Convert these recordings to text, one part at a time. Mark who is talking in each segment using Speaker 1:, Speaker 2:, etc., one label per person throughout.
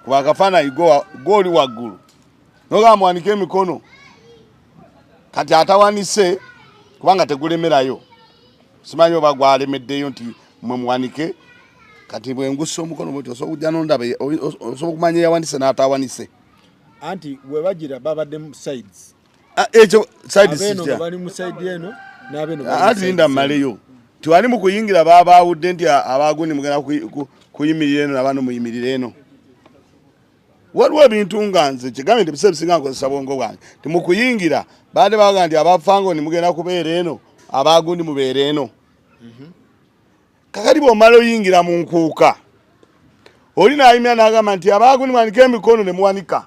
Speaker 1: kuba akafaanayi gooli waggulu nogamba muwanike emikono kati atawanise kubanga tegulemerayo simanyi oba gwalemeddeyo nti mwe muwanike kati bwengusa omukono bwoti osobola okujja nondaba osobola okumanya eyawanise n'atawanise anti
Speaker 2: webagira babadde sides Ah, ekyo
Speaker 1: side sija bali mu side
Speaker 2: eno nabe no ah, ati nda maleyo
Speaker 1: tiwali mu kuyingira baba awudde nti abaguni mugana kuyimirira eno nabano muyimirira eno waliwo ebintu nga nze kigambe nti biseera bisinga nkozesa bwongo bwange ti mu kuyingira baade baga nti abafango ni mugenda kubeera eno abagundi mubeera eno mhm. kakati bwomala oyingira mu nkuuka oli nayimira nagamba nti abagundi mwanika emikono ne muwanika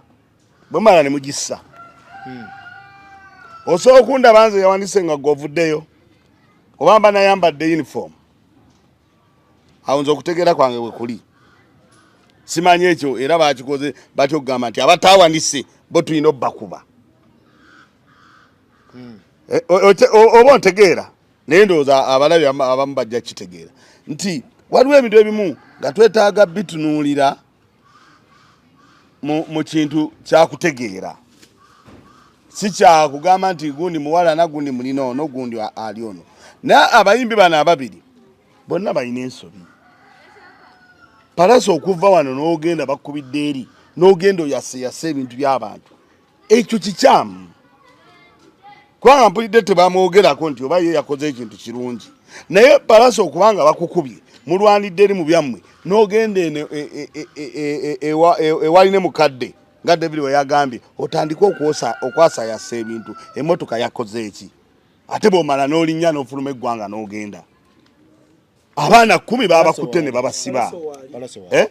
Speaker 1: bwemala nemugissa hmm. osobola okundaba nze yawandise nga gwovuddeyo oba mba nayambadde uniform awo nze okutegeera kwange wekuli simanyi ekyo era bakikoze batya okugamba nti abatawandise bo tulina obakuba hmm. eh, oba ontegeera naye ndowooza abalabi abamu bajja kitegeera nti waliwo ebintu ebimu nga twetaaga bitunuulira mu kintu kyakutegeera si kyakugamba nti gundi muwala nagundi mulina ono gundi ali ono naye abayimbi bano ababiri bonna balina ensobi palasa okuva wano n'ogenda bakubidde eri n'ogenda oyaseyasa ebintu by'abantu ekyo kikyamu kubanga mpulidde tebamwogerako nti oba ye yakoze ekintu kirungi naye balasa okubanga bakukubye mulwanidde eri mu byammwe n'ogenda eno ewali ne mukadde nga david weyagambye otandike okwasayasa ebintu emotoka yakoze eki ate bwomala n'olinnya n'ofuluma eggwanga n'ogenda abaana kumi babakutte ne babasiba eh?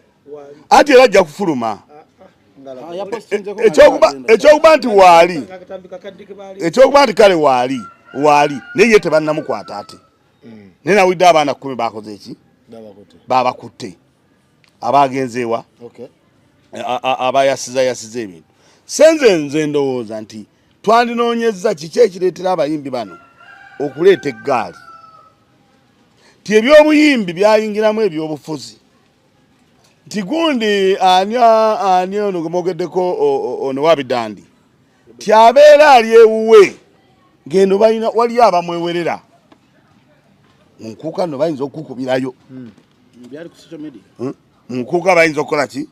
Speaker 1: ati era ajja kufuluma ah, ah. eh, ekyokuba nti waali ekyokuba nti kale waali waali naye ye tebannamukwata ati hmm. naye nawulidde abaana kumi bakoze eki babakutte abagenzeewa abayasiza yasiza ebintu senze nze ndowooza nti twandinoonyezza kiki ekireetera abayimbi bano okuleeta eggaali nti ebyobuyimbi byayingiramu ebyobufuzi nti gundi ani ani ono gwemwogeddeko ono wabidandi nti abeera ali ewuwe ngendo balina waliyo abamwewerera mu nkuuka no bayinza okukukubirayo hmm. hmm? mu nkuuka bayinza okukola ki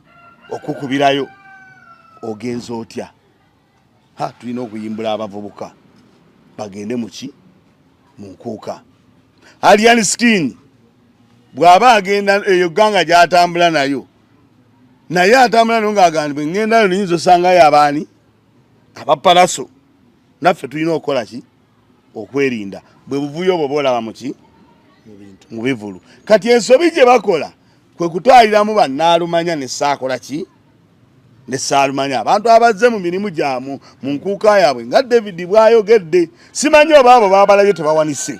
Speaker 1: okukubirayo ogenza otya ha tulina okuyimbula abavubuka bagende muki mu nkuuka alian skin bw'aba agenda eyo gganga gy'atambula nayo naye atambula nayo ng'agambibwa eŋŋendayo niyinza osangayo abaani abapalaso naffe tulina okukola ki okwerinda bwe buvuyo obwo bwolaba muki mu bivulu kati ensobi gye bakola kwe kutwaliramu bannaalumanya ne saakola ki ne saalumanya abantu abazze mu mirimu gyamu mu nkuuka yaabwe nga david bwayogedde simanyi oba abo babalabye tebawanise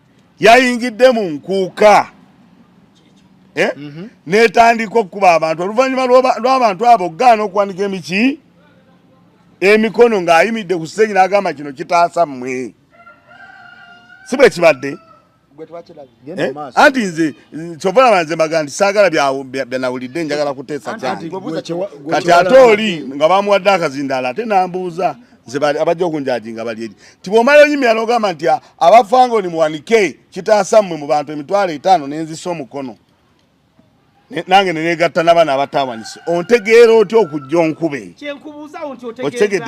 Speaker 1: yayingidde mu nkuuka eh? mm -hmm. netandika okukuba abantu oluvannyuma lw'abantu abo okugaana okuwanika emiki emikono ng'ayimidde ku siteegi n'agamba kino kitaasa mmwe si bwe kibadde eh? anti nze kyova laba nze mbaga nti saagala byanawulidde njagala kuteesa kyange kati ate oli nga bamuwadde akazindaala ate nambuuza nze abajja okunjajinga bali eri nti bwomala oyimira nogamba nti ah, abafangoni muwanike kitaasa mmwe mu bantu emitwalo etaano nenzisa omukono nange nenegatta nabaana abatawanise ontegeera otya okujja onkube okitegede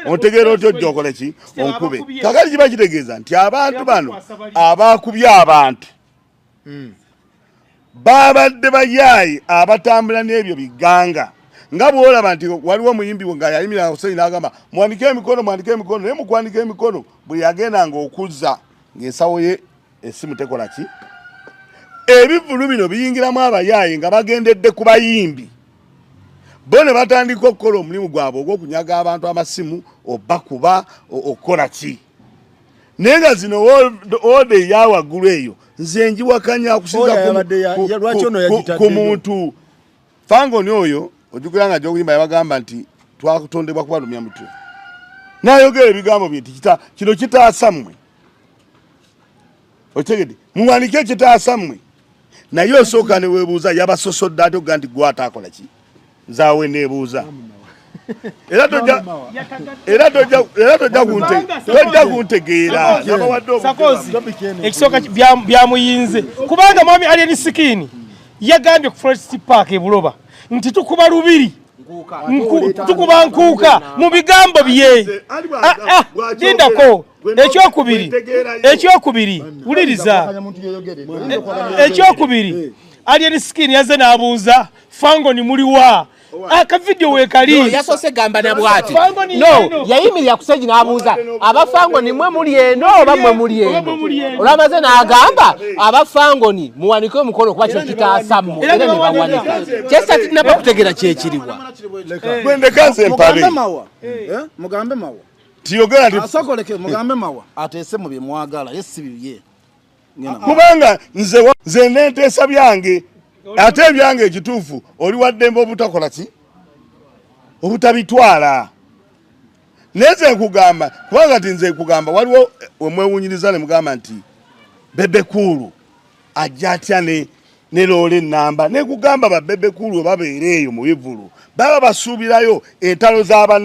Speaker 1: ontegeera otya ojja okole ki onkube kakati kiba kitegeeza nti abantu bano abakubye abantu hmm. babadde bayaaye abatambula n'ebyo biganga nga bwolaba nti waliwo omuyimbi nga yayimira Hussein agamba mwandike emikono mwandike emikono naye mukwandika emikono bwe yagenda nga okuzza ng'ensawo ye esimu tekola ki ebivulu bino biyingiramu abayaaye nga bagendedde ku bayimbi bo ne batandika okukola omulimu gwabwe ogw'okunyaga abantu amasimu obakuba okukola ki naye nga zino oda eya waggulu eyo nze njiwakanya akusinza ku muntu fangoni oyo ojukira nga gyokuyimba yabagamba nti twakutondebwa kubalumya mutwe nayogera ebigambo bye nti kino kitaasa mmwe okitegedde muwanike ekitaasa mmwe naye osooka ne weebuuza yabasosodde ate okuga nti gwe ataakola ki nzaawe neebuuza era tojja era tojja era tojja kunte tojja kuntegeera nabawadde obusakozi
Speaker 3: ekisooka byamuyinze kubanga mwami alien sikini yagambye ku forest park e buloba nti tukuba lubiri tukuba nkuuka mu bigambo bye lindako ah, ah, ekyokubiri ekyokubiri wuliriza ekyokubiri eh. alien skin yaze n'abuuza fangoni muliwa akavidiyo ah, wekali yasose gamba na
Speaker 4: bwati no yayimirira kuseji n'abuuza abafangoni mwe muli eno oba mwe muli eno olwamaze n'agamba abafangoni muwanike omukono kuba kino kitaasa mmwe era ne bawanika kyesa tinaba kutegera kyekiriwa
Speaker 1: mugambe mawa eh? Eh? mugambe
Speaker 2: mawa tiyogera nti
Speaker 1: asokoleke mugambe mawa
Speaker 2: ateese mu bye mwagala ye si bibye kubanga
Speaker 1: nze nze nenteesa byange ate ebyange ekituufu oli waddembe obutakola ki obutabitwala naye nze nkugamba kubanga ti nze nkugamba waliwo eh, wemwewunyiriza ne mugamba nti bebekuulu ajja atya ne ne loola ennamba nekugamba babebekuulu webabeera eyo mu bivulu baba basuubirayo entalo z'abana